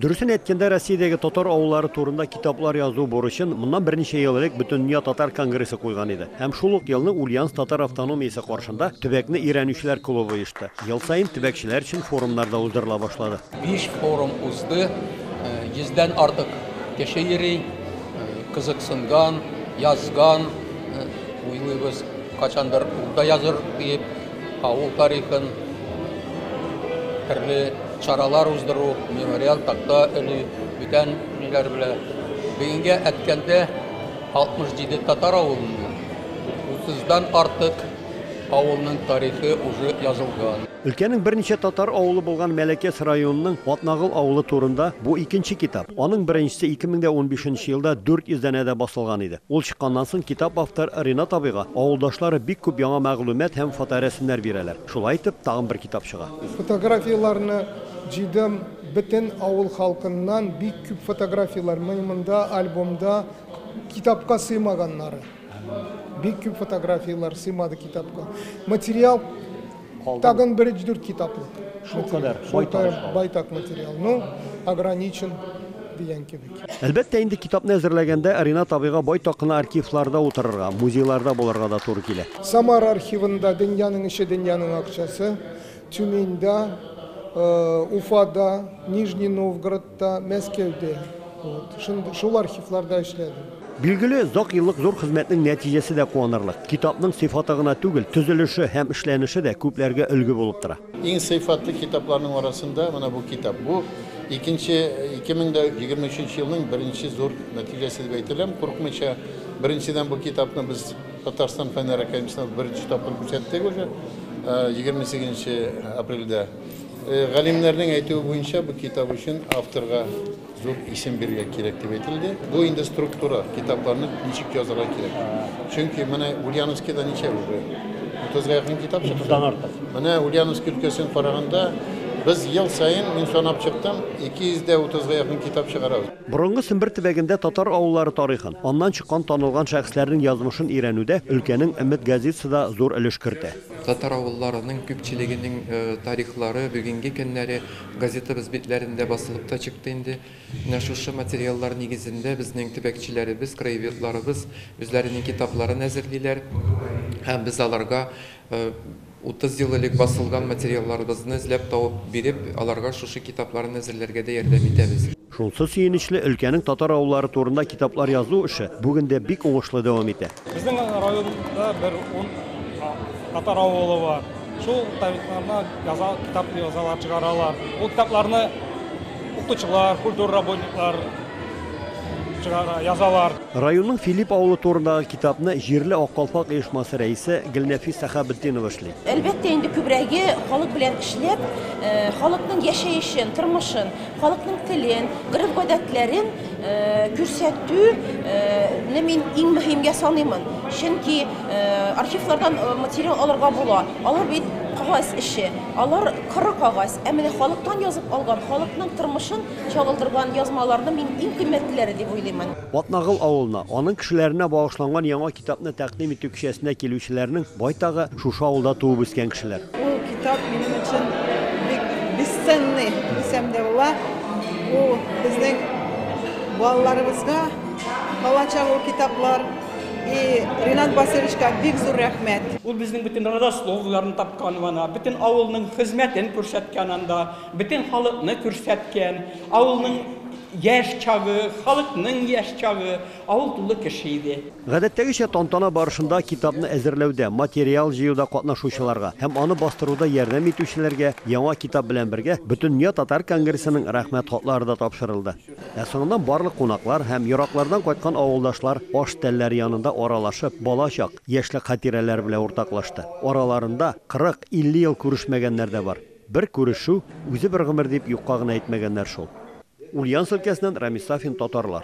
Дөресен әйткәндә, Россиядәге татар авыллары турында китаплар язу бурычын моннан берничә ел элек Бөтендөнья татар конгрессы куйган иде. Һәм шул ук елны Ульяновск татар автономиясе каршында төбәкне өйрәнүчеләр клубы оешты. Ел саен төбәкчеләр өчен форумнар да уздырыла башлады. Биш форум узды, йөздән артык кеше йөри, кызыксынган, язган, уйлыйбыз, кайчандыр ул да языр диеп. Авыл тарихын төрле чаралар уздыру, мемориал такта өли, бүтән ниләр белә. Бүгенгә әткәндә 67 татар авылыннан 30-дан артык авылның тарихы уже язылган. Өлкәнең берничә татар авылы булган Мәләкәс районының Атнагыл авылы турында бу икенче китап. Аның беренчесе 2015 елда 400 данәдә басылган иде. Ул чыкканнан соң китап автор Ринат абыйга авылдашлары бик күп яңа мәгълүмат һәм фоторәсемнәр бирәләр. Шулай итеп, тагын бер китап чыга. Фотографияләрне җыйдым, бөтен авыл халкыннан бик күп фотографияләр, мыймында, альбомда, китапка сыймаганнары. Бик күп фотографияләр сыймады китапка. Материал. Тагын бер өч-дүрт китаплык. Шул кадәр, байтак материал. Ну, ограничен дигән кебек. Әлбәттә, инде китапны әзерләгәндә Ринат абыйга байтак кына архивларда утырырга, музейларда булырга да туры килә. Самара архивында Дөньяның эче, дөньяның акчасы, Тюменьда, Уфада, Нижний Новгород, Та, Мәскәүдә. Вот. Шунд- Шул архивларда эшләдем. Билгеле, озак еллык зур хезмәтнең нәтиҗәсе дә куанырлык. Китапның сыйфаты гына түгел, төзелеше һәм эшләнеше дә күпләргә өлге булып тора. Иң сыйфатлы китапларның арасында менә бу китап. Бу икенче, 2023 елның беренче зур нәтиҗәсе дип әйтәләм, курыкмыйча. Беренчедән, бу китапны без Татарстан Фәннәр академиясендә беренче тапкыр күрсәттек уже, э, 28 нче апрельдә. Галимнәрнең әйтүе буенча, бу китап өчен авторга зур исем бирергә кирәк дип әйтелде. Бу инде структура, китапларны ничек язырга кирәк. Чөнки менә Ульяновскида ничә уже? 30-га якын китап чыкты. 30-дан артык. Менә Ульяновск өлкәсен караганда, без ел саен, мин санап чыктым, 200 дә 30-га якын китап чыгарабыз. Борынгы Сембер төбәгендә татар авыллары тарихын, аннан чыккан танылган шәхесләрнең язмышын өйрәнүдә өлкәнең Өмет газетасы да зур өлеш кертә. Татар авылларының күпчелегенең тарихлары бүгенге көннәре газетабыз битләрендә басылып та чыкты инде. Менә шушы материаллар нигезендә безнең төбәкчеләребез, краеведларыбыз үзләренең китапларын әзерлиләр һәм без аларга 30 ел элек басылган материалларыбызны эзләп табып биреп, аларга шушы китапларын әзерләргә дә ярдәм итәбез. Шунсы сөенечле, өлкәнең татар авыллары турында китаплар язу эше бүген дә бик уңышлы дәвам итә. Безнең районда бер ун татар авылы бар. Шул тарихларны яза, китап язалар, чыгаралар. Ул китапларны укытучылар, культура работниклар чыгара, язалар. Районның Филипп авылы турындагы китапны җирле Ак калфак оешмасы рәисе Гөлнәфис Сәхәбетдинова эшли. Әлбәттә инде күбрәге халык белән эшләп, халыкның яшәешен, тормышын, Халыкның телен, гореф-гадәтләрен күрсәтүне мин иң мөһимгә саныймын. Чөнки архивлардан материал алырга була. Алар бит кагаз эше, алар коры кагаз. Ә менә халыктан язып алган, халыкның тормышын чагылдырган язмаларны мин иң кыйммәтлеләре дип уйлыймын. Атнагыл авылына, аның кешеләренә багышланган яңа китапны тәкъдим итү кичәсенә килүчеләрнең байтагы, Шушы авылда туып үскән кешеләр. Ул китап минем өчен бик бесценный дисәм дә була. Ул безнең балаларыбызга калачак ул китаплар. И Ринат Васильевичка бик зур рәхмәт. Ул безнең бөтен родословняларны тапкан вана, бөтен авылның хезмәтен күрсәткән анда, бөтен халыкны күрсәткән, авылның яшь чагы, халыкның яшь чагы, Авыл тулы кеше иде. Гадәттәгечә, тантана барышында китапны әзерләүдә, материал җыюда катнашучыларга һәм аны бастыруда ярдәм итүчеләргә яңа китап белән бергә Бөтендөнья татар конгрессының Рәхмәт хатлары да тапшырылды. Ә соңыннан барлык кунаклар һәм ераклардан кайткан авылдашлар аш тәлләре янында аралашып, бала чак, яшьлек хатирәләре белән уртаклашты. Араларында 40-50 ел күрешмәгәннәр дә бар. Бер күрешү, үзе бер гомер дип юкка гына әйтмәгәннәр шул. Ульяновск өлкәсеннән Рамис Сафин, Татарлар.